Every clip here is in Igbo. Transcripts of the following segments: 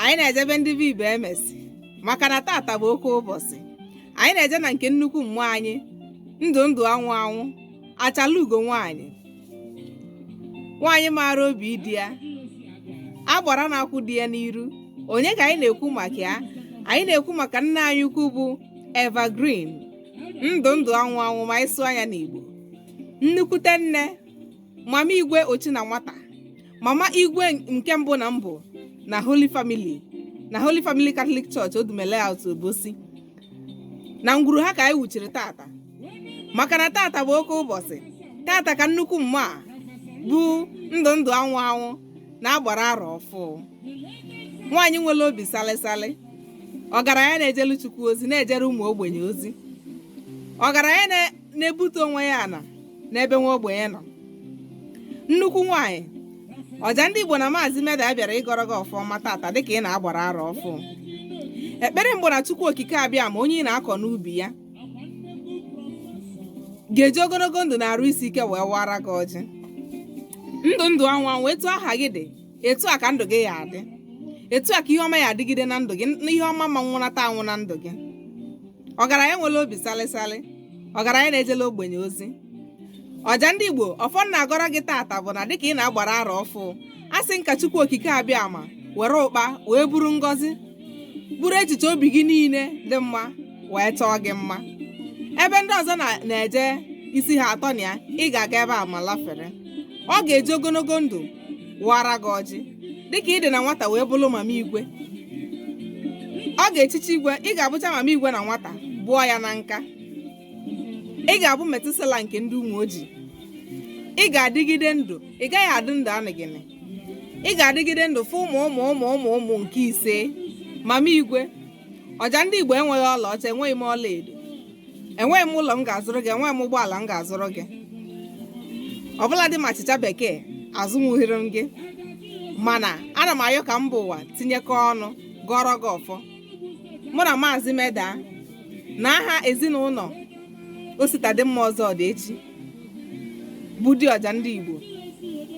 anyị na-eje be ndị be ibe emesi maka na tata bụ oke ụbọchị anyị na-eje na nke nnukwu mmụọ anyị ndụ ndụ anwụ anwụ achala ugo nwaanyị nwaanyị maara obi di ya agbara na-akwụ di ya n'iru onye ka anyị na-ekwu maka ya anyị na-ekwu maka nne anyị ukwu bụ evergreen ndụ ndụ anwụ anwụ ma ị sụa ya n'igbo nnukwute nne mama igwe ochi na nwata mama igwe nke mbụ na mbụ na holy family na holy family catholic church odume layout obosi na ngwuru ha ka anyị wuchiri tata maka na tata bụ oke ụbọchị tata ka nnukwu mmụọ a bụ ndụ ndụ anwụ anwụ na-agbara arọ ọfụụ nwaanyị nwere obi salịsalị ọgaranya na-ejelu chukwu ozi na-ejere ụmụ ogbenye ozi ọgaranya na na-ebute onwe ya ala n'ebe nwa ogbenye nọ nnukwu nwaanyị ọja ndị igbo na maazị meda bịara ịgọrọ gị ọfọ ọma tata dịka ị na-agbara arọ ọfụụ ekpere m bụ na chukwu okike abịama onye ị na-akọ n'ubi ya ga-eji ogologo ndụ na arụ isi ike wee wara gị ọjị ndụ ndụ anwụ anwụ etu aha gị dị etu a ka ndụ gị ya adị etu a ka ihe ọma ya adịgide na ndụ gị na ihe ọma ma nwụnata anwụ na ndụ gị ọgaranya nwere obi salịsalị ọgaranya na-ejelu ogbenye ozi ọja ndị igbo ọfọ m na-agọrọ gị tata bụ na dịka ị na-agbara arọ ọfụụ asị m ka chukwu okike abịama were ụkpa wee buru ngọzi buru echiche obi gị niile dị mma wee chọọ gị mma ebe ndị ọzọ na- na-eje isi ha atọ na ya ị ga-aga ebe a ma lafere ọ ga-eji ogologo ndụ wara gị ọjị dịka ị dị na nwata wee bụrụ mama igwe ọ ga-echichi igwe ị ga-abụcha mama igwe na nwata bụọ ya na nka ị ga-abụ methuselah nke ndị umuoji ị ga-adịgide ndụ ị gaghị adị ndụ anịgịnị ị ga-adịgide ndụ fụ ụmụ ụmụ ụmụ ụmụ ụmụ nke ise mama igwe ọja ndị igbo enweghị ọlaọcha enweghị m ọlaedo enweghị m ụlọ m ga-azụrụ gị enweghị m ụgbọala m ga-azụrụ gị ọ bụladị ma achịcha bekee azụnwughịrị m gị mana ana m ayọ ka mba ụwa tinyekọ ọnụ gọrọ gị ọfọ mụ na maazị meda na aha ezinụlọ ositadịmma ọzọ dị echi bụ di ọja ndị Igbo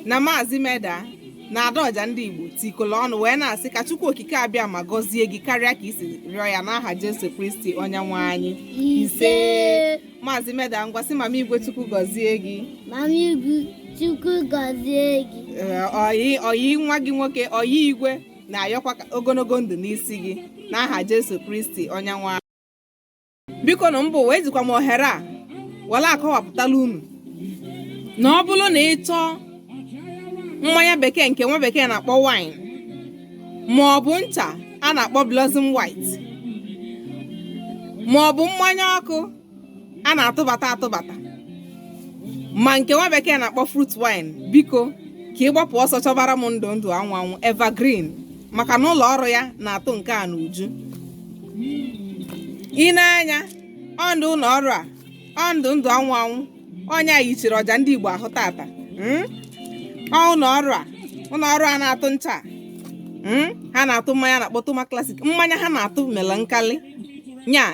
na Maazị Meda na Ada ọja ndị Igbo tikọrọ ọnụ wee na-asị ka Chukwu Okike Abịama gọzie gị karịa ka i si rịọ ya n'aha Jesu Kristi onye nwe anyị ise Maazị Meda ngwa sị mama Igwe Chukwu gọzie gị Mama Igwe Chukwu gọzie gị. Ee, ọyị ọyị nwa gị nwoke ọyị igwe na-ayọkwa ka ogologo ndụ n'isi gị n'aha Jesu Kristi onye nwe bikonụ mba ụwa ejikwa m ohere a were akọwapụtala unu na ọ bụrụ na ị chọọ mmanya bekee nke nwa bekee na-akpọ wine ma ọ bụ ncha a na-akpọ blossom white ma ọ bụ mmanya ọkụ a na-atụbata atụbata ma nke nwa bekee na-akpọ fruit wine biko ka ị gbapụ ọsọ chọbara m ndụ ndụ anwụ anwụ evergreen maka na ụlọ ọrụ ya na-atụ nke a n'uju ị nee anya ọndụ ụlọ ọrụ a ọndụ ndụ anwụ anwụ onye anyị chiri ọja ndị Igbo ahụ tata mm? ọ ụlọ ọrụ a ụlọ ọrụ a na-atụ ncha mm? ha na-atụ mmanya a na-akpọ toma classic mmanya ha na-atụ mela nkali nya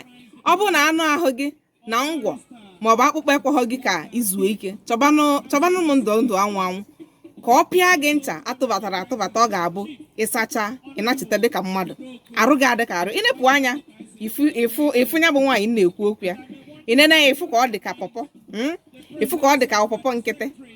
ọ bụrụ na anụ ahụ gị na ngwọ maọbụ akpụkpọ ekweghọ gị ka i zuo ike chọbanụ chọbanụ m ndụ ndụ anwụ anwụ ka ọ pịa gị ncha atụbatara atụbata ọ ga-abụ ị sacha ịnachite dịka mmadụ arụ gị adị ka arụ ị nepụ anya ị fụ ị fụ ị fụ ya bụ nwaanyị m na-ekwu okwu ya ị nene ya ị fụ ka ọ dị ka pọpọ mm? ị fụ ka ọ dị ka pọpọ nkịtị